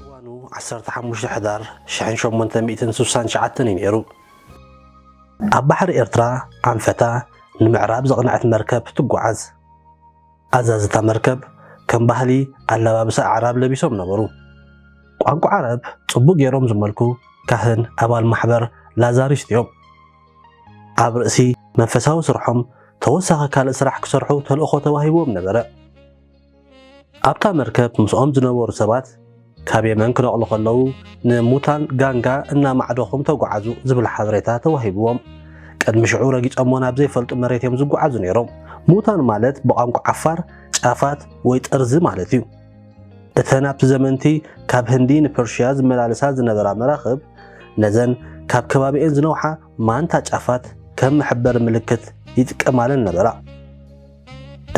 እዋኑ ዓሰርተ ሓሙሽተ ሕዳር ሽሕን ሸሞንተ ሚእትን ስሳን ትሽዓተን እዩ ነይሩ። ኣብ ባሕሪ ኤርትራ ኣንፈታ ንምዕራብ ዘቕነዐት መርከብ ትጓዓዝ። ኣዛዚ እታ መርከብ ከም ባህሊ ኣለባብሳ ኣዕራብ ለቢሶም ነበሩ። ቋንቋ ዓረብ ጽቡቕ ገይሮም ዝመልኩ ካህን ኣባል ማሕበር ላዛሪስት እዮም። ኣብ ርእሲ መንፈሳዊ ስርሖም ተወሳኺ ካልእ ስራሕ ክሰርሑ ተልእኾ ተዋሂብዎም ነበረ። ኣብታ መርከብ ምስኦም ዝነበሩ ሰባት ካብ የመን ክነቕሉ ከለዉ ንሙታን ጋንጋ እናማዕደኹም ተጓዓዙ ዝብል ሓበሬታ ተዋሂብዎም። ቅድሚ ሽዑ ረጊጾሞ ናብ ዘይፈልጡ መሬት እዮም ዝጓዓዙ ነይሮም። ሙታን ማለት ብቋንቋ ዓፋር ጫፋት ወይ ጥርዚ ማለት እዩ። እተን ኣብቲ ዘመንቲ ካብ ህንዲ ንፐርሽያ ዝመላለሳ ዝነበራ መራኽብ ነዘን ካብ ከባቢኤን ዝነውሓ ማንታ ጫፋት ከም መሕበሪ ምልክት ይጥቀማለን ነበራ።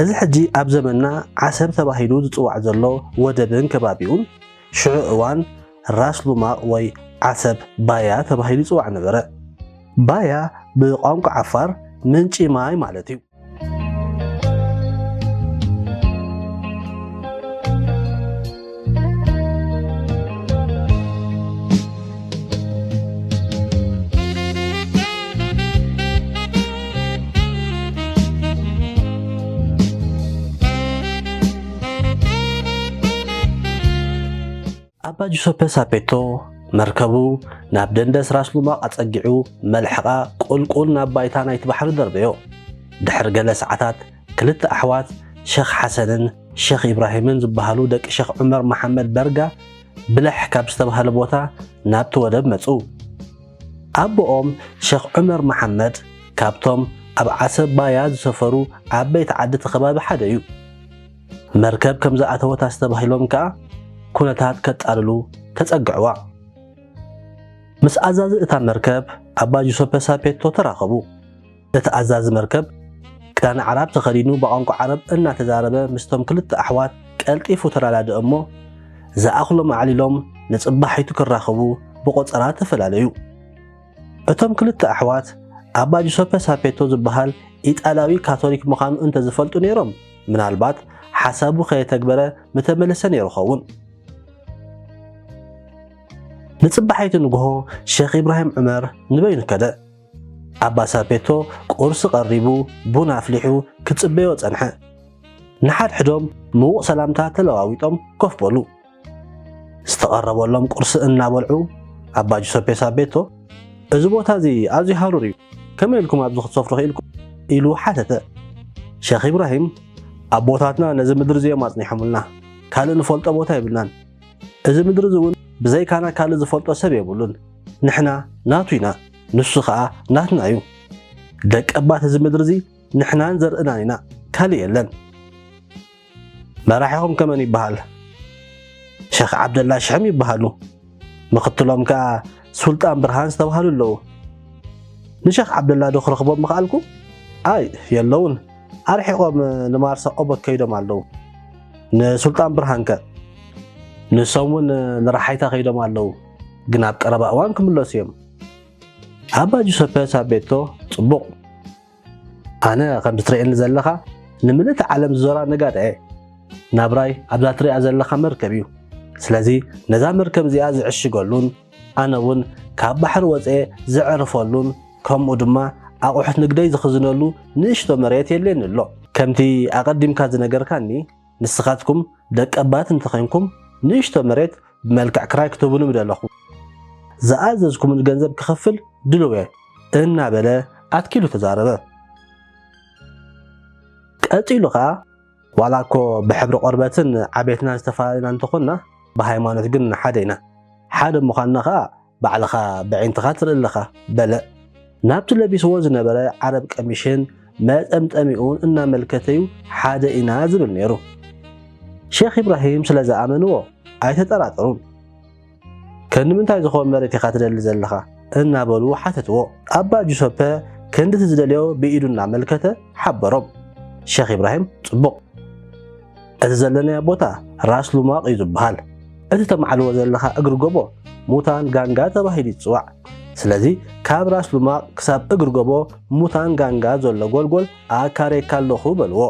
እዚ ሕጂ ኣብ ዘመንና ዓሰብ ተባሂሉ ዝጽዋዕ ዘሎ ወደብን ከባቢኡን፣ ሽዑ እዋን ራስ ሉማቕ ወይ ዓሰብ ባያ ተባሂሉ ይጽዋዕ ነበረ። ባያ ብቋንቋ ዓፋር ምንጪ ማይ ማለት እዩ። ኣባ ጁሰፐ ሳፔቶ መርከቡ ናብ ደንደስ ራስ ሉማቕ ኣጸጊዑ መልሕቓ ቁልቁል ናብ ባይታ ናይቲ ባሕሪ ደርበዮ። ድሕሪ ገለ ሰዓታት ክልተ ኣሕዋት ሸኽ ሓሰንን ሸኽ ኢብራሂምን ዝበሃሉ ደቂ ሸኽ ዑመር መሓመድ በርጋ ብለሕ ካብ ዝተብሃለ ቦታ ናብቲ ወደብ መጹ። ኣቦኦም ሸኽ ዑመር መሓመድ ካብቶም ኣብ ዓሰብ ባያ ዝሰፈሩ ዓበይቲ ዓዲ እቲ ከባቢ ሓደ እዩ። መርከብ ከም ዝኣተወት ኣስተባሂሎም ከኣ ኩነታት ከጣልሉ ተጸግዕዋ። ምስ ኣዛዚ እታ መርከብ ኣባ ጁሰፐ ሳፔቶ ተራኸቡ። እቲ ኣዛዚ መርከብ፣ ክዳን ዓራብ ተኸዲኑ ብቛንቋ ዓረብ እናተዛረበ ምስቶም ክልተ ኣሕዋት ቀልጢፉ ተረዳድእ እሞ፣ ዝኣኽሎም ኣዕሊሎም ንጽባሒቱ ክራኸቡ ብቖጸራ ተፈላለዩ። እቶም ክልተ ኣሕዋት፣ ኣባ ጁሰፐ ሳፔቶ ዝበሃል ኢጣልያዊ ካቶሊክ ምዃኑ እንተ ዝፈልጡ ነይሮም፣ ምናልባት ሓሳቡ ከየተግበረ ምተመልሰ ነይሩ ኸውን። ንጽባሒቱ ንግሆ ሸኽ ኢብራሂም ዑመር ንበይኑ ከደ። ኣባ ሳፔቶ ቁርሲ ቀሪቡ ቡን ኣፍሊሑ ክጽበዮ ጸንሐ። ንሓድሕዶም ምዉቕ ሰላምታ ተለዋዊጦም ኮፍ በሉ። ዝተቐረበሎም ቁርሲ እናበልዑ ኣባ ጁሰፔ ሳቤቶ እዚ ቦታ እዚ ኣዝዩ ሃሩር እዩ፣ ከመይ ኢልኩም ኣብዚ ክትሰፍሩ ክኢልኩም? ኢሉ ሓተተ። ሸኽ ኢብራሂም ኣቦታትና ነዚ ምድሪ እዚኦም ኣጽኒሖምልና፣ ካልእ ንፈልጦ ቦታ የብልናን፣ እዚ ምድሪ እዚ እውን ብዘይካና ካልእ ዝፈልጦ ሰብ የብሉን። ንሕና ናቱ ኢና፣ ንሱ ኸኣ ናትና እዩ። ደቀባት እዚ ምድሪ እዚ ንሕናን ዘርእናን ኢና፣ ካልእ የለን። መራሒኹም ከ መን ይበሃል? ሸኽ ዓብደላ ሽሕም ይበሃሉ። ምኽትሎም ከኣ ሱልጣን ብርሃን ዝተባህሉ ኣለዉ። ንሸኽ ዓብደላ ዶ ክረኽቦም ምኸኣልኩ? ኣይ የለዉን፣ ኣርሒቖም ንማርሳ ኦቦክ ከይዶም ኣለዉ። ንሱልጣን ብርሃን ከ ንሶም እውን ንረሓይታ ከይዶም ኣለዉ ግን ኣብ ቀረባ እዋን ክምለሱ እዮም ኣባ ጁሰፐ ሳቤቶ ፅቡቕ ኣነ ከምዚ ትርእየኒ ዘለኻ ንምልእቲ ዓለም ዝዞራ ነጋዳ እየ ናብራይ ኣብዛ ትሪኣ ዘለኻ መርከብ እዩ ስለዚ ነዛ መርከብ እዚኣ ዝዕሽገሉን ኣነ እውን ካብ ባሕሪ ወፅየ ዘዕርፈሉን ከምኡ ድማ ኣቑሑት ንግደይ ዝኽዝነሉ ንእሽቶ መሬት የድልየኒ ኣሎ። ከምቲ ኣቐዲምካ ዝነገርካኒ ንስኻትኩም ደቀባት እንተዄንኩም ንእሽቶ መሬት ብመልክዕ ክራይ ክትህቡኒ ምደለኹ። ዝኣዘዝኩምኒ ገንዘብ ክኽፍል ድሉው እየ። እናበለ ኣትኪሉ ተዛረበ። ቀፂሉ ከዓ። ዋላ እኮ ብሕብሪ ቆርበትን ዓቤትናን ዝተፈላለና እንተኾንና ብሃይማኖት ግን ሓደ ኢና። ሓደ ምዃንና ከኣ ባዕልኻ በዒንትኻ ትርኢ ኣለኻ። በለ ናብቲ ለቢስዎ ዝነበረ ዓረብ ቀሚሽን መጠምጠሚኡን እናመልከተ'ዩ ሓደ ኢና ዝብል ነይሩ። ሼኽ ኢብራሂም ስለ ዝኣመንዎ ኣይተጠራጠሩን። ከንዲ ምንታይ ዝኸውን መሬት ኢኻ ትደሊ ዘለኻ? እናበሉ ሓተትዎ። ኣባ ጁሰፐ ከንዲ እቲ ዝደልዮ ብኢዱ እናመልከተ ሓበሮም። ሸኽ ኢብራሂም ጽቡቕ። እቲ ዘለናዮ ቦታ ራስ ሉማቕ እዩ ዝበሃል። እቲ ተማዕልዎ ዘለኻ እግሪ ጎቦ ሙታን ጋንጋ ተባሂሉ ይጽዋዕ። ስለዚ ካብ ራስ ሉማቕ ክሳብ እግሪ ጎቦ ሙታን ጋንጋ ዘሎ ጎልጎል ኣካርየካ ኣለኹ በልዎ።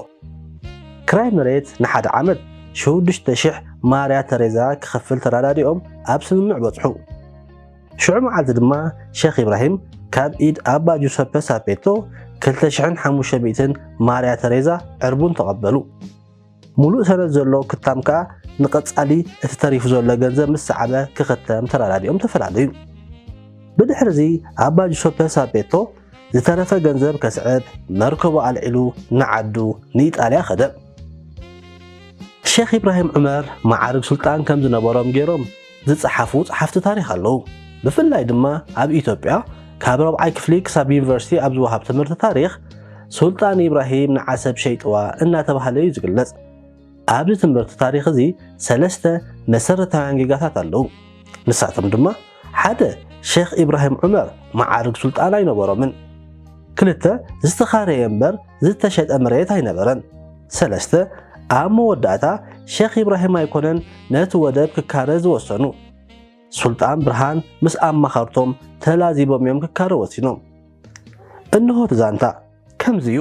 ክራይ መሬት ንሓደ ዓመት ሽዱሽተ ሽሕ ማርያ ተሬዛ ክኸፍል ተረዳዲኦም ኣብ ስምምዕ በጽሑ። ሽዑ መዓልቲ ድማ ሸኽ ኢብራሂም ካብ ኢድ ኣባ ጁሰፐ ሳፔቶ ክልተ ሽሕን ሓሙሽተ ሚእትን ማርያ ተሬዛ ዕርቡን ተቐበሉ። ሙሉእ ሰነድ ዘሎ ክታም ከኣ ንቐጻሊ እቲ ተሪፉ ዘሎ ገንዘብ ምስ ሰዓበ ክኽተም ተረዳዲኦም ተፈላለዩ። ብድሕርዚ ኣባ ጁሰፐ ሳፔቶ ዝተረፈ ገንዘብ ከስዕብ መርከቡ ኣልዒሉ ንዓዱ ንኢጣልያ ከደ። ሼኽ ኢብራሂም ዑመር መዓርግ ሱልጣን ከም ዝነበሮም ገይሮም ዝጸሓፉ ጸሓፍቲ ታሪኽ ኣለዉ። ብፍላይ ድማ ኣብ ኢትዮጵያ ካብ ረብዓይ ክፍሊ ክሳብ ዩኒቨርሲቲ ኣብ ዝወሃብ ትምህርቲ ታሪኽ ሱልጣን ኢብራሂም ንዓሰብ ሸይጥዋ እናተባህለ እዩ ዝግለጽ። ኣብዚ ትምህርቲ ታሪኽ እዚ ሰለስተ መሰረታውያን ጌጋታት ኣለዉ። ንሳቶም ድማ ሓደ ሼኽ ኢብራሂም ዑመር መዓርግ ሱልጣን ኣይነበሮምን። ክልተ ዝተኻረየ እምበር ዝተሸጠ መሬት ኣይነበረን። ሰለስተ ኣብ መወዳእታ ሼኽ ኢብራሂም ኣይኮነን ነቲ ወደብ ክካረ ዝወሰኑ። ሱልጣን ብርሃን ምስ ኣማኸርቶም ተላዚቦም እዮም ክካረ ወሲኖም። እንሆ እቲ ዛንታ ከምዚ እዩ።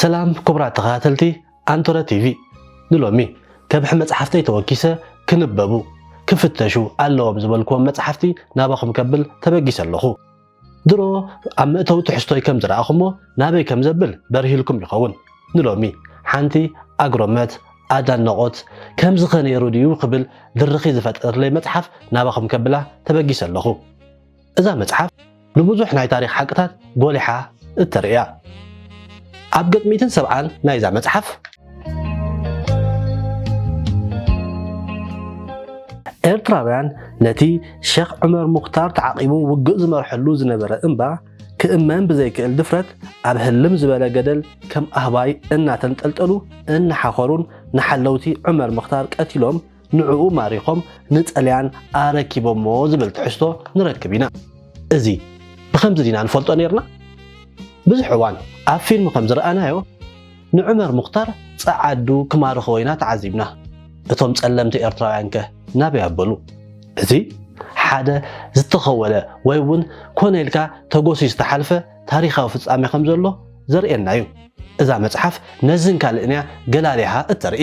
ሰላም ክቡራት ተኸታተልቲ ኣንቶረ ቲቪ ንሎሚ ከብሒ መጽሓፍተይ ተወኪሰ ክንበቡ ክፍተሹ ኣለዎም ዝበልክዎም መጽሓፍቲ ናባኹም ከብል ተበጊሰ ኣለኹ ድሮ ኣብ መእተዊ ትሕዝቶይ ከም ዝረኣኹሞ ናበይ ከም ዘብል በርሂልኩም ይኸውን ንሎሚ ሓንቲ ኣግሮመት ኣዳነቖት ከምዚ ኸ ነይሩ ድዩ ክብል ድርኺ ዝፈጠርለይ መጽሓፍ ናባኹም ከብላ ተበጊሰ ኣለኹ እዛ መጽሓፍ ንብዙሕ ናይ ታሪኽ ሓቅታት ጎሊሓ እተርእያ ኣብ ገጽ ሚእትን ሰብዓን ናይዛ መጽሓፍ ኤርትራውያን ነቲ ሸኽ ዑመር ሙኽታር ተዓቂቡ ውግእ ዝመርሐሉ ዝነበረ እምባ ክእመን ብዘይክእል ድፍረት ኣብ ህልም ዝበለ ገደል ከም ኣህባይ እናተንጠልጠሉ እናሓኸሩን ንሓለውቲ ዑመር ምኽታር ቀቲሎም ንዕኡ ማሪኾም ንጥልያን ኣረኪቦሞ ዝብል ትሕዝቶ ንረክብ ኢና። እዚ ብኸምዚ ዲና ንፈልጦ ኔርና? ብዙሕ እዋን ኣብ ፊልም ከም ዝረኣናዮ ንዑመር ሙኽታር ጸዓዱ ክማርኽዎ ኢና ተዓዚብና። እቶም ጸለምቲ ኤርትራውያንከ ናበይ ኣበሉ? እዚ ሓደ ዝተኸወለ ወይ እውን ኮነ ኢልካ ተጎስዩ ዝተሓልፈ ታሪኻዊ ፍጻሜ ከም ዘሎ ዘርእየና እዩ። እዛ መጽሓፍ ነዝን ካልእን'ያ ገላሊሃ እተርኢ።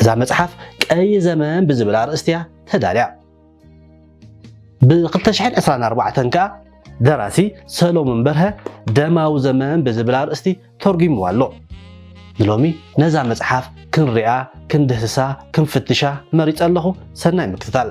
እዛ መጽሓፍ ቀይ ዘመን ብዝብል ኣርእስቲ እያ ተዳልያ። ብ2024 ከኣ ደራሲ ሰሎሞን በርሀ ደማዊ ዘመን ብዝብል ኣርእስቲ ተርጒምዋ ኣሎ። ንሎሚ ነዛ መጽሓፍ ክንሪኣ፣ ክንድህስሳ፣ ክንፍትሻ መሪጸ ኣለኹ። ሰናይ ምክትታል።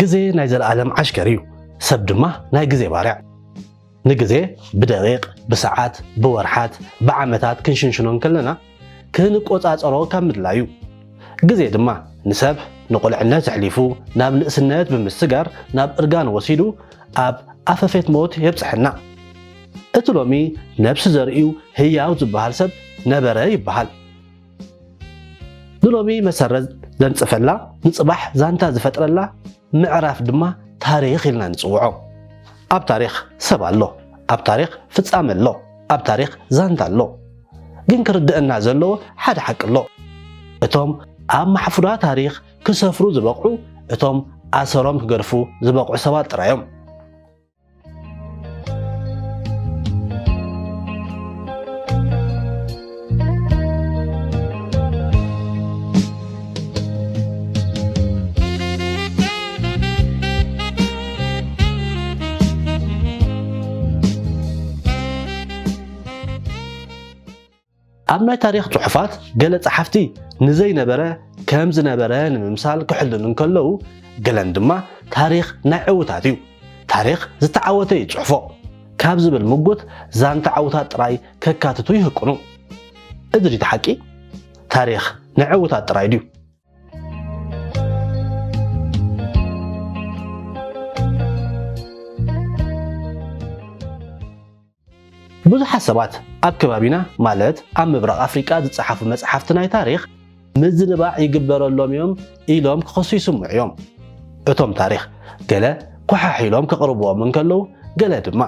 ግዜ ናይ ዘለኣለም ዓሽከር እዩ፣ ሰብ ድማ ናይ ግዜ ባርያ። ንግዜ ብደቂቕ፣ ብሰዓት፣ ብወርሓት፣ ብዓመታት ክንሽንሽኖ እንከለና ክንቆጻጸሮ ካብ ምድላዩ ግዜ ድማ ንሰብ ንቁልዕነት ኣሕሊፉ ናብ ንእስነት ብምስጋር ናብ እርጋን ወሲዱ ኣብ ኣፈፌት ሞት የብጽሐና። እቲ ሎሚ ነብሲ ዘርእዩ ህያው ዝበሃል ሰብ ነበረ ይበሃል። ንሎሚ መሰረት ዘንጽፈላ ንጽባሕ ዛንታ ዝፈጥረላ ምዕራፍ ድማ ታሪኽ ኢልና ንጽውዖ። ኣብ ታሪኽ ሰብ ኣሎ፣ ኣብ ታሪኽ ፍጻመ ኣሎ። ኣብ ታሪኽ ዛንታ ኣሎ። ግን ክርደእና ዘለዎ ሓደ ሓቂ ኣሎ። እቶም ኣብ ማሕፉራ ታሪኽ ክሰፍሩ ዝበቕዑ እቶም ኣሰሮም ክገድፉ ዝበቕዑ ሰባት ጥራይ እዮም። ኣብ ናይ ታሪኽ ጽሑፋት ገለ ጸሓፍቲ ንዘይነበረ ከም ዝነበረ ንምምሳል ክሕልኑ እንከለዉ ገለን ድማ ታሪኽ ናይ ዕውታት እዩ ታሪኽ ዝተዓወተ ይጽሕፎ ካብ ዝብል ምጉት ዛንታ ዓውታት ጥራይ ከካትቱ ይህቅኑ። እዚ ድዩ እቲ ሓቂ? ታሪኽ ናይ ዕውታት ጥራይ ድዩ? ብዙሓት ሰባት ኣብ ከባቢና ማለት ኣብ ምብራቕ ኣፍሪቃ ዝጸሓፉ መጽሓፍቲ ናይ ታሪኽ ምዝንባዕ ይግበረሎም እዮም ኢሎም ክኸሱ ይስምዑ እዮም። እቶም ታሪኽ ገለ ኮሓሕ ኢሎም ከቕርብዎም እንከለዉ ገለ ድማ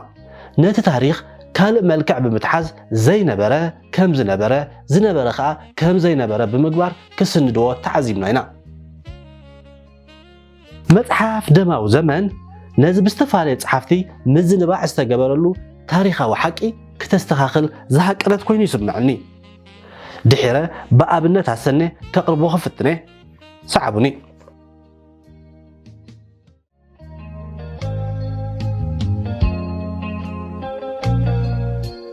ነቲ ታሪኽ ካልእ መልክዕ ብምትሓዝ ዘይነበረ ከም ዝነበረ፣ ዝነበረ ከኣ ከም ዘይነበረ ብምግባር ክስንድዎ ተዓዚብና ኢና። መጽሓፍ ደማዊ ዘመን ነዚ ብዝተፈላለዩ ጸሓፍቲ ምዝንባዕ ዝተገበረሉ ታሪኻዊ ሓቂ ክተስተኻኽል ዝሃቀነት ኮይኑ ይስምዕኒ። ድሒረ ብኣብነት ኣሰነ ከቕርቦ ክፍትነ። ሰዓቡኒ።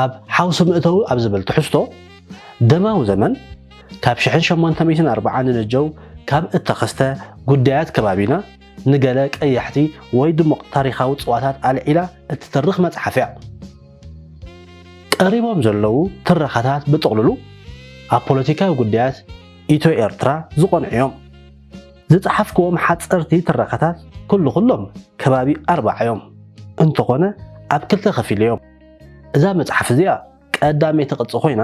ኣብ ሓውሲ መእተዊ ኣብ ዝብል ትሕዝቶ ደማዊ ዘመን ካብ ሽሕን ሸሞንተ ሚእትን ኣርብዓን ንነጀው ካብ እተኸስተ ጉዳያት ከባቢና ንገለ ቀያሕቲ ወይ ድሙቕ ታሪኻዊ ጽዋታት ኣልዒላ እትትርኽ መጽሓፍ እያ። ቀሪቦም ዘለዉ ትረኻታት ብጥቕልሉ ኣብ ፖለቲካዊ ጉዳያት ኢትዮ-ኤርትራ ዝቖንዑ እዮም። ዝጸሓፍክዎም ሓጸርቲ ትረኻታት ኩሉ ኩሎም ከባቢ ኣርብዓ እዮም፣ እንተኾነ ኣብ ክልተ ከፊለዮም። እዛ መጽሓፍ እዚኣ ቀዳመይቲ ቅጺ ኮይና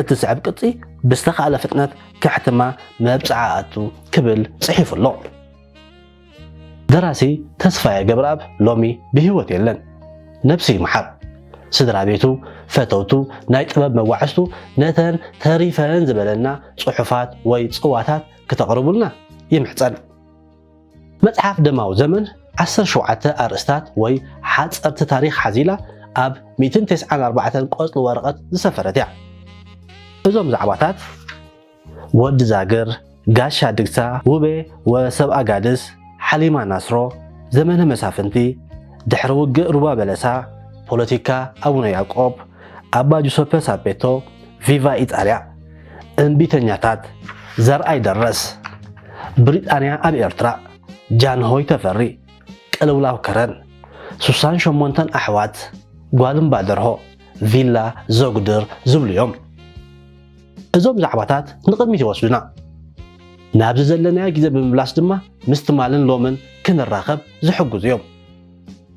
እትስዕብ ቅጺ ብዝተኻእለ ፍጥነት ከሕትማ መብጽዓ ኣቱ ክብል ጽሒፉ ኣሎ። ደራሲ ተስፋየ ገብረኣብ ሎሚ ብህይወት የለን፣ ነብሱ ይምሓር። ስድራ ቤቱ፣ ፈተውቱ፣ ናይ ጥበብ መጓዕዝቱ ነተን ተሪፈን ዝበለና ጽሑፋት ወይ ጽዋታት ክተቕርቡልና ይምሕጸን። መጽሓፍ ደማዊ ዘመን ዓሰርተ ሸውዓተ ኣርእስታት ወይ ሓጸርቲ ታሪኽ ሓዚላ ኣብ ሚእትን ተስዓን ኣርባዕተን ቆጽሊ ወረቐት ዝሰፈረት እያ። እዞም ዛዕባታት ወዲ ዛግር፣ ጋሻ ድግሳ፣ ውቤ ወሰብ ኣጋድስ፣ ሓሊማ ናስሮ፣ ዘመነ መሳፍንቲ፣ ድሕሪ ውግእ ሩባ በለሳ፣ ፖለቲካ ኣቡነ ያዕቆብ፣ ኣባ ጁሰፐ ሳፔቶ፣ ቪቫ ኢጣልያ፣ እምቢተኛታት፣ ዘርኣይ ደረስ፣ ብሪጣንያ ኣብ ኤርትራ፣ ጃንሆይ ተፈሪ፣ ቅልውላው ከረን፣ ሱሳን ሸሞንተን ኣሕዋት፣ ጓል እምባ ደርሆ፣ ቪላ ዘጉድር ዝብሉ እዮም። እዞም ዛዕባታት ንቕድሚት ይወስዱና። ናብዚ ዘለናዮ ግዜ ብምምላስ ድማ ምስ ትማልን ሎምን ክንራኸብ ዝሕግዙ እዮም።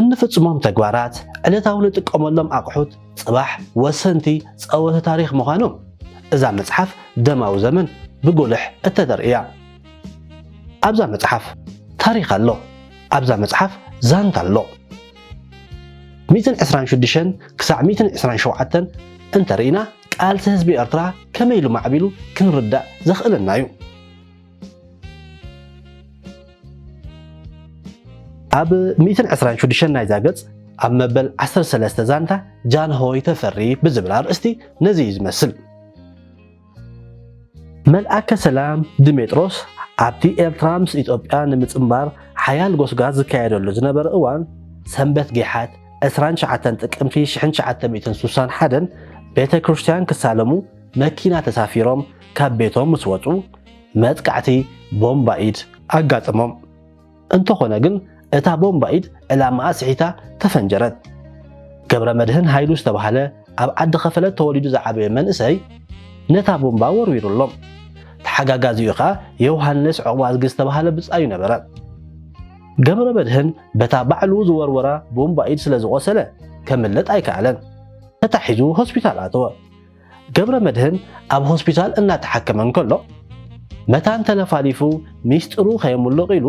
እንፍፅሞም ተግባራት ዕለታዊ ንጥቀመሎም ኣቕሑት ፅባሕ ወሰንቲ ፀወተ ታሪክ ምዃኖም እዛ መፅሓፍ ደማዊ ዘመን ብጉልሕ እተደር እያ። ኣብዛ መፅሓፍ ታሪክ ኣሎ። ኣብዛ መፅሓፍ ዛንታ ኣሎ። ሚእትን ዕስራን ሽዱሽተን ክሳዕ ሚእትን ዕስራን ሸውዓተን እንተ ርኢና ቃልሲ ህዝቢ ኤርትራ ከመይ ኢሉ ማዕቢሉ ክንርዳእ ዘኽእለና እዩ። ኣብ ሚእትን ዕስራን ሽዱሽተን ናይዛ ገጽ ኣብ መበል ዓሰርተ ሰለስተ ዛንታ ጃንሆይ ተፈሪ ብዝብል ኣርእስቲ ነዚ እዩ ዝመስል። መልኣከ ሰላም ድሜጥሮስ ኣብቲ ኤርትራ ምስ ኢትዮጵያ ንምጽንባር ሓያል ጎስጓስ ዝካየደሉ ዝነበረ እዋን ሰንበት ጌሓት 29 ጥቅምቲ 1961 ቤተ ክርስቲያን ክሳለሙ መኪና ተሳፊሮም ካብ ቤቶም ምስ ወጹ መጥቃዕቲ ቦምባ ኢድ ኣጋጠሞም። እንተኾነ ግን እታ ቦምባ ኢድ ዕላማኣ ስሒታ ተፈንጀረት። ገብረመድህን ሃይሉ ዝተባህለ ኣብ ዓዲ ከፈለት ተወሊዱ ዝዓበየ መንእሰይ ነታ ቦምባ ወርዊሩሎም። ተሓጋጋዚኡ ከኣ ዮውሃንስ ዑቕባዝጊ ዝተባህለ ብጻዩ ነበረ። ገብረመድህን በታ ባዕሉ ዝወርወራ ቦምባ ኢድ ስለ ዝቖሰለ ከምልጥ ኣይከኣለን። ተታሒዙ ሆስፒታል ኣተወ። ገብረመድህን ኣብ ሆስፒታል እናተሓከመ እንከሎ መታን ተለፋሊፉ ሚስጥሩ ከየምሉቕ ኢሉ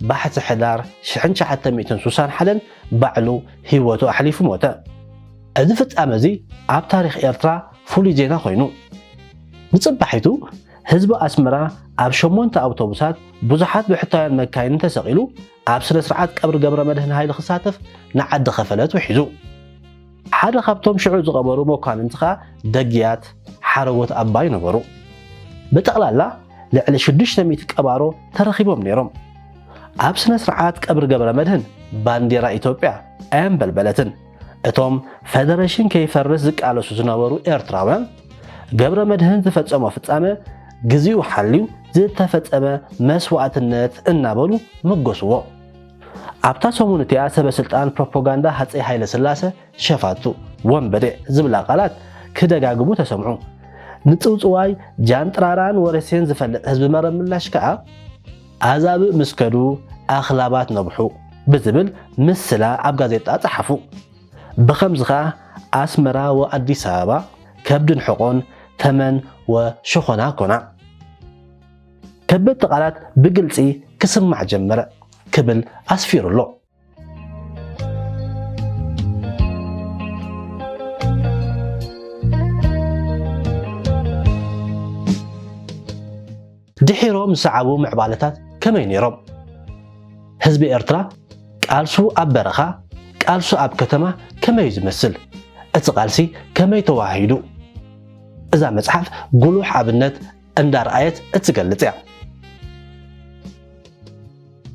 ባሕቲ ሕዳር 1961 ባዕሉ ህይወቱ ኣሕሊፉ ሞተ። እዚ ፍጻመ እዚ ኣብ ታሪኽ ኤርትራ ፍሉይ ዜና ኮይኑ ንጽባሒቱ ህዝቢ ኣስመራ ኣብ ሸሞንተ ኣውቶቡሳት ብዙሓት ብሕታውያን መካይንን ተሰቒሉ ኣብ ስነ-ስርዓት ቀብሪ ገብረመድህን ሃይለ ክሳተፍ ንዓዲ ከፈለት ውሒዙ። ሓደ ካብቶም ሽዑ ዝቐበሩ መኳንንቲ ከኣ ደግያት ሓረጎት ኣባይ ነበሩ። ብጠቕላላ ልዕሊ ሽዱሽተ ሚእቲ ቀባሮ ተረኺቦም ነይሮም። ኣብ ስነ-ስርዓት ቀብሪ ገብረመድህን ባንዴራ ኢትዮጵያ ኣየንበልበለትን። እቶም ፈደረሽን ከይፈርስ ዝቃለሱ ዝነበሩ ኤርትራውያን፣ ገብረመድህን ዝፈጸሞ ፍጻመ ግዜኡ ሓልዩ ዝተፈጸመ መስዋእትነት እናበሉ መጎስዎ። ኣብታ ሰሙን እቲኣ ሰበ ስልጣን ፕሮፖጋንዳ ሃጸይ ሃይለስላሰ ሸፋቱ፣ ወንበዴ ዝብላ ቃላት ክደጋግሙ ተሰምዑ። ንጽውጽዋይ ጃንጥራራን ወረሴን ዝፈልጥ ህዝቢ መረብ ምላሽ ከኣ፣ ኣህዛብ ምስ ከዱ ኣኽላባት ነብሑ ብዝብል ምስላ ኣብ ጋዜጣ ጸሓፉ። ብኸምዚ ከኣ ኣስመራ ወኣዲስ ኣበባ ከብድን ሕቖን፣ ተመን ወሸኾና ኮና። ከበድቲ ቃላት ብግልጺ ክስማዕ ጀመረ ክብል ኣስፊሩ ኣሎ። ድሒሮም ዝሰዓቡ ምዕባለታት ከመይ ነይሮም? ህዝቢ ኤርትራ ቃልሱ ኣብ በረኻ፣ ቃልሱ ኣብ ከተማ ከመይ እዩ ዝመስል? እቲ ቃልሲ ከመይ ተዋሂዱ? እዛ መጽሓፍ ጉሉሕ ኣብነት እንዳርኣየት እትገልጽ እያ።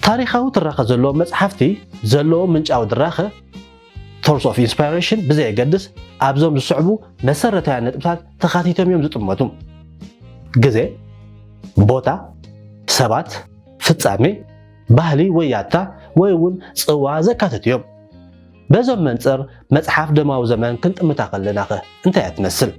ታሪኻዊ ትረኻ ዘለዎም መጽሓፍቲ ዘለዎም ምንጫዊ ድራኸ፣ Source of Inspiration፣ ብዘየገድስ ኣብዞም ዝስዕቡ መሰረታውያን ነጥብታት ተኻቲቶም እዮም ዝጥመቱ፣ ግዜ፣ ቦታ፣ ሰባት፣ ፍጻሜ፣ ባህሊ ወይ ያታ ወይ እውን ጽዋ ዘካትቱ እዮም። በዞም መንጽር መጽሓፍ ደማዊ ዘመን ክንጥምታ ከለናኸ እንታይ እያ ትመስል?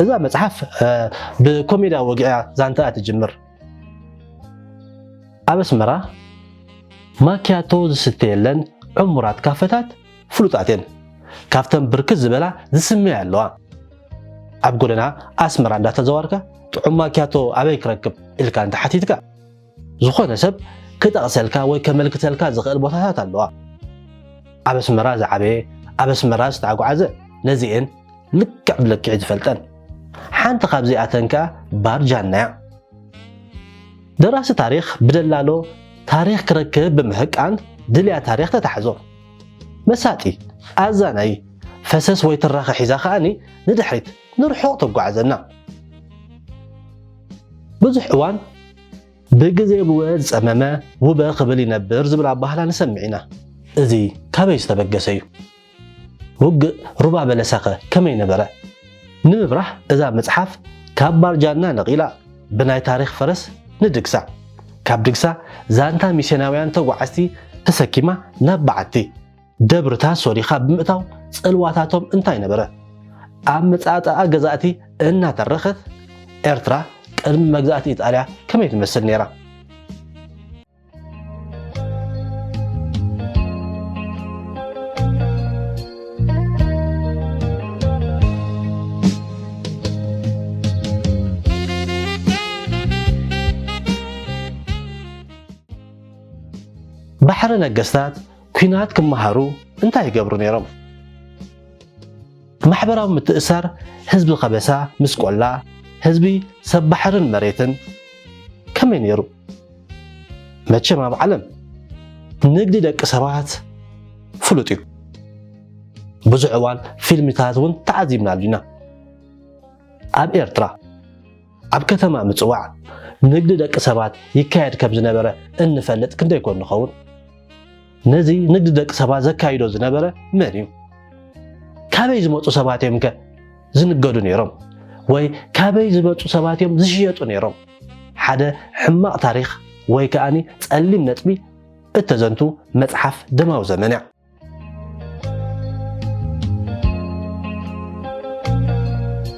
እዛ መጽሓፍ ብኮሜዳ ወግያ ዛንታ ትጅምር ኣብ ኣስመራ ማኪያቶ ዝስተ የለን ዕሙራት ካፈታት ፍሉጣት እየን። ካብተን ብርክት ዝበላ ዝስመያ ኣለዋ። ኣብ ጎደና ኣስመራ እንዳተዘዋርካ ጥዑም ማኪያቶ ኣበይ ክረክብ ኢልካ እንተሓቲትካ ዝኾነ ሰብ ክጠቕሰልካ ወይ ከመልክተልካ ዝኽእል ቦታታት ኣለዋ። ኣብ ኣስመራ ዝዓበየ ኣብ ኣስመራ ዝተዓጓዓዘ ነዚኤን ልክዕ ብልክዕ ዝፈልጠን ሓንቲ ካብዚኣተን ከኣ ባር ጃና እያ። ደራሲ ታሪኽ ብደላሎ ታሪኽ ክረክብ ብምህቃን ድልያ ታሪኽ ተታሕዞ። መሳጢ ኣዛናዪ ፈሰስ ወይ ትራኸ ሒዛ ከኣ ንድሕሪት ንርሑቕ ተጓዕዘና። ብዙሕ እዋን ብግዜ ብወ ዝጸመመ ውበ ክብል ይነብር ዝብል ኣባህላ ንሰምዕ ኢና። እዚ ካበይ ዝተበገሰ እዩ? ውግእ ሩባ በለሳኸ ከመይ ነበረ? ንምብራህ እዛ መጽሓፍ ካብ ባርጃና ነቒላ ብናይ ታሪኽ ፈረስ ንድግሳ፣ ካብ ድግሳ ዛንታ ሚስዮናውያን ተጓዓዝቲ ተሰኪማ ናብ በዓቲ ደብርታት ሶሪኻ ብምእታው ጽልዋታቶም እንታይ ነበረ? ኣብ መጻእጣኣ ገዛእቲ እናተረኸት ኤርትራ ቅድሚ መግዛእቲ ኢጣልያ ከመይ ትመስል ነይራ? ባሕሪ ነገስታት ኩናት ክመሃሩ እንታይ ይገብሩ ነይሮም? ማሕበራዊ ምትእሳር ህዝቢ ከበሳ ምስ ቆላ ህዝቢ ሰብ ባሕርን መሬትን ከመይ ነይሩ? መቸም ኣብ ዓለም ንግዲ ደቂ ሰባት ፍሉጥ እዩ ብዙሕ እዋን ፊልምታት እውን ተዓዚብናሉ ኢና ኣብ ኤርትራ ኣብ ከተማ ምፅዋዕ ንግዲ ደቂ ሰባት ይካየድ ከም ዝነበረ እንፈልጥ ክንደይ ኮን ንኸውን ነዚ ንግዲ ደቂ ሰባት ዘካይዶ ዝነበረ መን እዩ? ካበይ ዝመፁ ሰባት እዮም ከ ዝንገዱ ነይሮም? ወይ ካበይ ዝመፁ ሰባት እዮም ዝሽየጡ ነይሮም? ሓደ ሕማቕ ታሪኽ ወይ ከኣኒ ጸሊም ነጥቢ እተዘንቱ መጽሓፍ ደማዊ ዘመን እያ።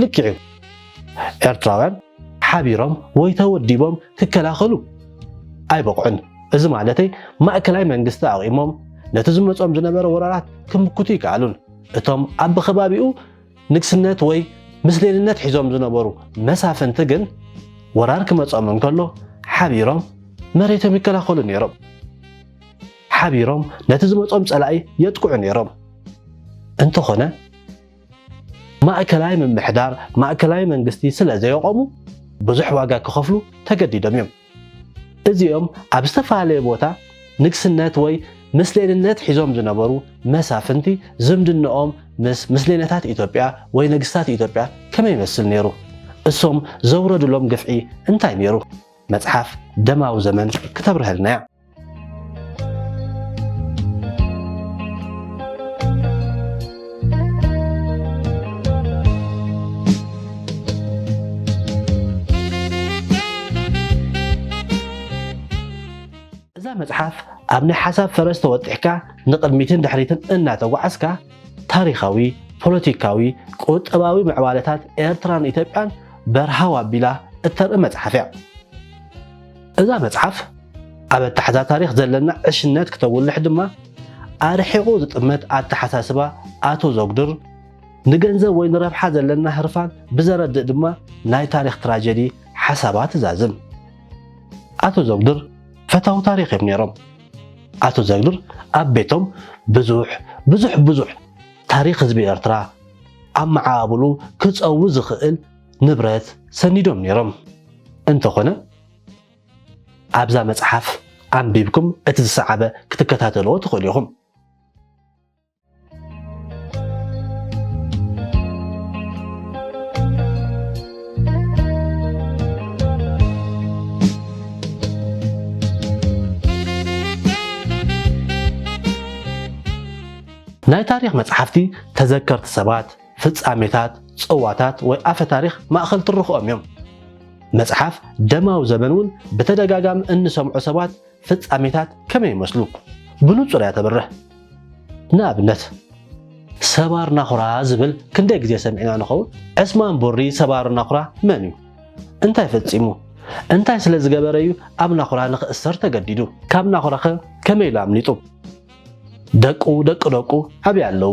ልክዕ እዩ ኤርትራውያን ሓቢሮም ወይ ተወዲቦም ክከላኸሉ ኣይበቕዑን። እዚ ማለተይ ማእከላይ መንግስቲ ኣቚሞም ነቲ ዝመጾም ዝነበረ ወራራት ክምክቱ ይከኣሉን። እቶም ኣብ ብከባቢኡ ንግስነት ወይ ምስሌንነት ሒዞም ዝነበሩ መሳፍንቲ ግን ወራር ክመጾም እንከሎ ሓቢሮም መሬቶም ይከላኸሉ ነይሮም። ሓቢሮም ነቲ ዝመጾም ጸላኢ የጥቅዑ ነይሮም። እንተኾነ ማእከላይ ምምሕዳር፣ ማእከላይ መንግስቲ ስለ ዘየቖሙ ብዙሕ ዋጋ ክኸፍሉ ተገዲዶም እዮም። እዚኦም ኣብ ዝተፈላለየ ቦታ ንግስነት ወይ ምስሌንነት ሒዞም ዝነበሩ መሳፍንቲ ዝምድነኦም ምስ ምስሌነታት ኢትዮጵያ ወይ ነግስታት ኢትዮጵያ ከመይ ይመስል ነይሩ? እሶም ዘውረዱሎም ግፍዒ እንታይ ነይሩ? መጽሓፍ ደማዊ ዘመን ክተብርሀልና እያ። እዛ መጽሓፍ ኣብ ናይ ሓሳብ ፈረስ ተወጢሕካ ንቕድሚትን ድሕሪትን እናተጓዓዝካ ታሪኻዊ፣ ፖለቲካዊ፣ ቁጠባዊ ምዕባለታት ኤርትራን ኢትዮጵያን በርሃው ኣቢላ እተርኢ መጽሓፍ እያ። እዛ መጽሓፍ ኣብ ኣተሓዛ ታሪኽ ዘለና ዕሽነት ክተጉልሕ ድማ ኣርሒቑ ዝጥመት ኣተሓሳስባ ኣቶ ዘጉድር ንገንዘብ ወይ ንረብሓ ዘለና ህርፋን ብዘረድእ ድማ ናይ ታሪኽ ትራጀዲ ሓሳባ ትዛዝም። ኣቶ ዘጉድር ፈታዊ ታሪኽ እዮም ነይሮም። ኣቶ ዘግድር ኣብ ቤቶም ብዙሕ ብዙሕ ብዙሕ ታሪኽ ህዝቢ ኤርትራ ኣብ መዓባብሉ ክጸዊ ዝኽእል ንብረት ሰኒዶም ነይሮም። እንተኾነ ኣብዛ መጽሓፍ ኣንቢብኩም እቲ ዝሰዓበ ክትከታተልዎ ትኽእሉ ኢኹም። ናይ ታሪኽ መጽሓፍቲ ተዘከርቲ ሰባት ፍጻሜታት፣ ጽዋታት ወይ ኣፈ ታሪኽ ማእከል ትርኽኦም እዮም። መጽሓፍ ደማዊ ዘበን እውን ብተደጋጋሚ እንሰምዖ ሰባት ፍጻሜታት ከመይ ይመስሉ ብንጹር እያ ተብርህ። ንኣብነት። ሰባር ናኹራ ዝብል ክንደይ ግዜ ሰሚዕና ንኸውን? ዕስማን ቡሪ ሰባር ናኹራ መን እዩ? እንታይ ፈጺሙ? እንታይ ስለ ዝገበረ እዩ ኣብ ናኹራ ንኽእሰር ተገዲዱ? ካብ ናኹራኸ ከመይ ኢሉ ኣምሊጡ? ደቁ ደቂ ደቁ ኣበይ ኣለዉ?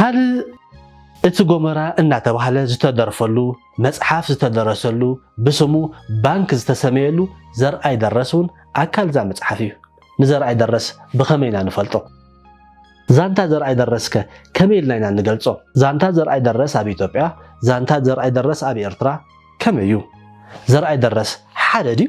ካልእ እቲ ጎመራ እናተባህለ ዝተደርፈሉ መፅሓፍ ዝተደረሰሉ ብስሙ ባንክ ዝተሰመየሉ ዘርኣይ ደረስ እውን ኣካል እዛ መፅሓፍ እዩ። ንዘርኣይ ደረስ ብኸመይ ኢና ንፈልጦ? ዛንታ ዘርኣይ ደረስ ከ ከመይ ኢልና ኢና ንገልጾ? ዛንታ ዘርኣይ ደረስ ኣብ ኢትዮጵያ፣ ዛንታ ዘርኣይ ደረስ ኣብ ኤርትራ ከመይ እዩ? ዘርኣይ ደረስ ሓደ ድዩ?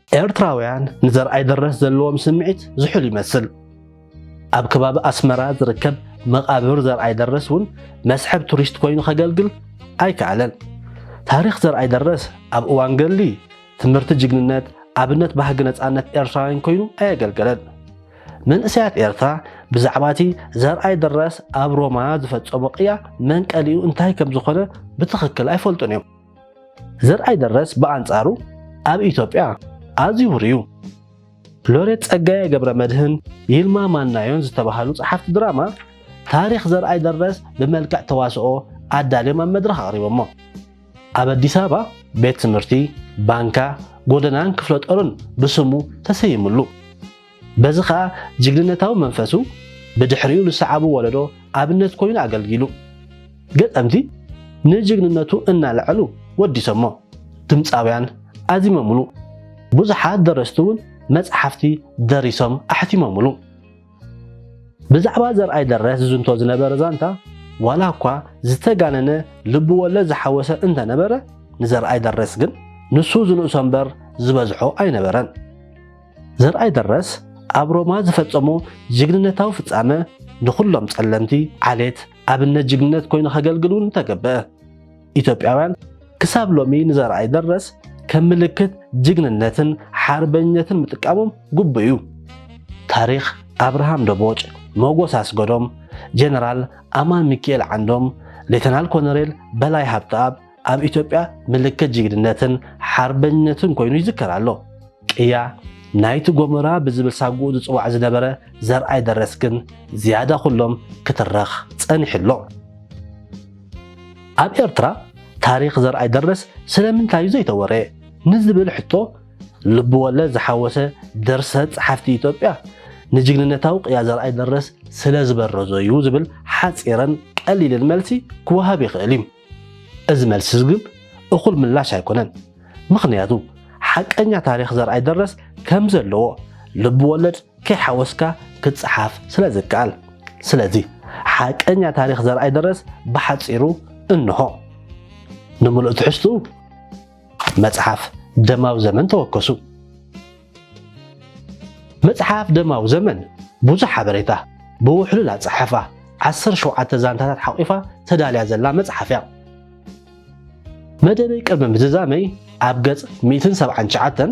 ኤርትራውያን ንዘርኣይ ደረስ ዘለዎም ስምዒት ዝሑል ይመስል። ኣብ ከባቢ ኣስመራ ዝርከብ መቓብር ዘርኣይ ደረስ እውን መስሕብ ቱሪስት ኮይኑ ከገልግል ኣይከኣለን። ታሪኽ ዘርኣይ ደረስ ኣብ እዋን ገድሊ፣ ትምህርቲ ጅግንነት፣ ኣብነት ባህጊ ነፃነት ኤርትራውያን ኮይኑ ኣየገልገለን። መንእሰያት ኤርትራ ብዛዕባ እቲ ዘርኣይ ደረስ ኣብ ሮማ ዝፈጸሞ ቅያ መንቀሊኡ እንታይ ከም ዝኾነ ብትኽክል ኣይፈልጡን እዮም። ዘርኣይ ደረስ ብኣንጻሩ ኣብ ኢትዮጵያ ኣዝዩ ውሩይ እዩ። ሎሬት ጸጋዬ ገብረ መድህን፣ ይልማ ማናዮን ዝተባህሉ ጸሓፍቲ ድራማ ታሪኽ ዘርኣይ ደረስ ብመልክዕ ተዋስኦ ኣዳልዮም ኣብ መድረኽ ኣቕሪቦሞ። ኣብ ኣዲስ ኣበባ ቤት ትምህርቲ፣ ባንካ፣ ጎደናን ክፍለጦርን ብስሙ ተሰይምሉ። በዚ ከኣ ጅግንነታዊ መንፈሱ ብድሕሪኡ ንሰዓቡ ወለዶ ኣብነት ኮይኑ ኣገልጊሉ። ገጠምቲ ንጅግንነቱ እናለዐሉ ወዲሰሞ። ድምጻውያን ኣዚሞምሉ። ብዙሓት ደረስቲ እውን መጽሓፍቲ ደሪሶም ኣሕቲሞምሉ። ብዛዕባ ዘርኣይ ደረስ ዝዝንቶ ዝነበረ ዛንታ ዋላ እኳ ዝተጋነነ ልብወለድ ዝሓወሰ እንተነበረ ንዘርኣይ ደረስ ግን ንሱ ዝንእሶ እምበር ዝበዝሖ ኣይነበረን። ዘርኣይ ደረስ ኣብ ሮማ ዝፈጸሞ ጅግንነታዊ ፍጻመ ንኹሎም ጸለምቲ ዓሌት ኣብነት ጅግንነት ኮይኑ ከገልግል እውን ተገብአ። ኢትዮጵያውያን ክሳብ ሎሚ ንዘርኣይ ደረስ ከም ምልክት ጅግንነትን ሓርበኝነትን ምጥቃሞም ግቡእ እዩ። ታሪኽ ኣብርሃም ደቦጭ፣ ሞጎስ ኣስገዶም፣ ጀነራል ኣማን ሚኪኤል ዓንዶም፣ ሌተናል ኮነሬል በላይ ሃብተኣብ፣ ኣብ ኢትዮጵያ ምልክት ጅግንነትን ሓርበኝነትን ኮይኑ ይዝከር ኣሎ። ቅያ ናይቲ ጎመራ ብዝብል ሳጉኡ ዝፅዋዕ ዝነበረ ዘርኣይ ደረስ ግን ዝያዳ ኩሎም ክትረኽ ፀኒሑ ኣሎ። ኣብ ኤርትራ ታሪኽ ዘርኣይ ደረስ ስለምንታይ እዩ ዘይተወረየ ንዝብል ሕቶ ልብወለድ ዝሓወሰ ድርሰት ጸሓፍቲ ኢትዮጵያ ንጅግንነታዊ ቅያ ዘርኣይ ደረስ ስለ ዝበረዞ እዩ ዝብል ሓጺርን ቀሊልን መልሲ ክወሃብ ይኽእል እዩ። እዚ መልስዚ ግን እኹል ምላሽ ኣይኮነን። ምኽንያቱ ሓቀኛ ታሪኽ ዘርኣይ ደረስ ከም ዘለዎ ልብ ወለድ ከይሓወስካ ክጸሓፍ ስለ ዝከኣል። ስለዚ ሓቀኛ ታሪኽ ዘርኣይ ደረስ ብሓጺሩ እንሆ። ንምሉእ ትሕዝትኡ መጽሓፍ ደማዊ ዘመን ተወከሱ። መጽሓፍ ደማዊ ዘመን ብዙሕ ሓበሬታ ብውሕሉል ኣጸሓሕፋ ዓሰርተ ሸውዓተ ዛንታታት ሓቝፋ ተዳልያ ዘላ መጽሓፍ እያ። መደበይ ቅድሚ ምዝዛመይ ኣብ ገጽ ሚእትን ሰብዓን ትሽዓተን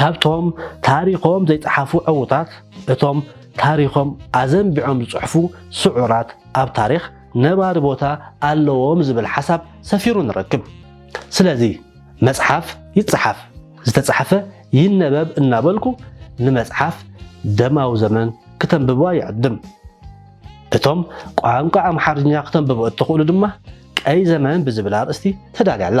ካብቶም ታሪኾም ዘይጸሓፉ ዕዉታት፣ እቶም ታሪኾም ኣዘንቢዖም ዝጽሕፉ ስዑራት ኣብ ታሪኽ ነባሪ ቦታ ኣለዎም ዝብል ሓሳብ ሰፊሩ ንረክብ። ስለዚ መጽሓፍ ይጸሓፍ፣ ዝተጻሕፈ ይነበብ እናበልኩ ንመጽሓፍ ደማዊ ዘመን ክተንብብዋ ይዕድም። እቶም ቋንቋ ኣምሓርኛ ክተንብቡ እትኽእሉ ድማ ቀይ ዘመን ብዝብል ኣርእስቲ ተዳልያ ኣላ።